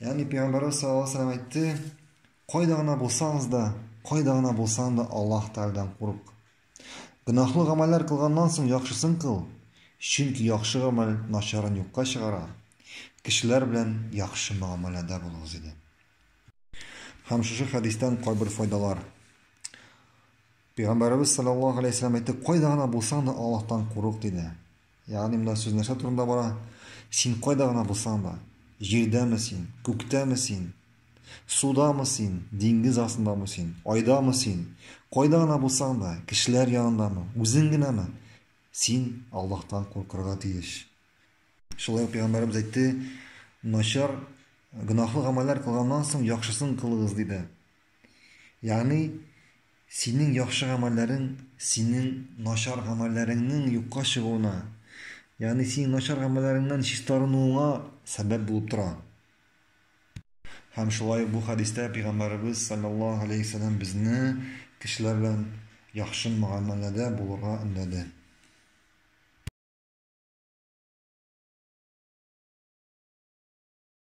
Ягъни пәйгамбәрбез саллаллаһу алейһи вәсәлләм әйтте, кайда гына булсагыз да, кайда гына булсаң да Аллаһ Тәгаләдән курык. Гөнаһлы гамәлләр кылганнан соң яхшысын кыл, чөнки яхшы гамәл начарын юкка чыгара. Кешеләр белән яхшы мөгамәләдә булыгыз иде. Һәм шушы хәдистән кайбер файдалар. Пәйгамбәрбез саллаллаһу алейһи вәсәлләм әйтте, кайда гына булсаң да Аллаһтан курык диде. Ягъни монда сүз нәрсә турында бара? Син кайда гына булсаң да, җирдәме син, күктәме син, судамы син, диңгез астындамы син, айдамы син, кайда гына булсаң да, кешеләр янындамы, үзең генәме, син Аллаһтан куркырга тиеш. Шулай ук пәйгамбәребез әйтте, начар, гөнаһлы гамәлләр кылганнан соң яхшысын кылыгыз диде. Ягъни, синең яхшы гамәлләрең синең начар гамәлләреңнең юкка чыгуына, ягъни синең начар гамәлләреңнән чистарынуыңа сәбәп булып тора. Һәм шулай ук бу хәдистә Пәйгамбәребез саллаллаһу алейһи ва саллям безне кешеләр белән яхшы мөгамәләдә булырга өндәде.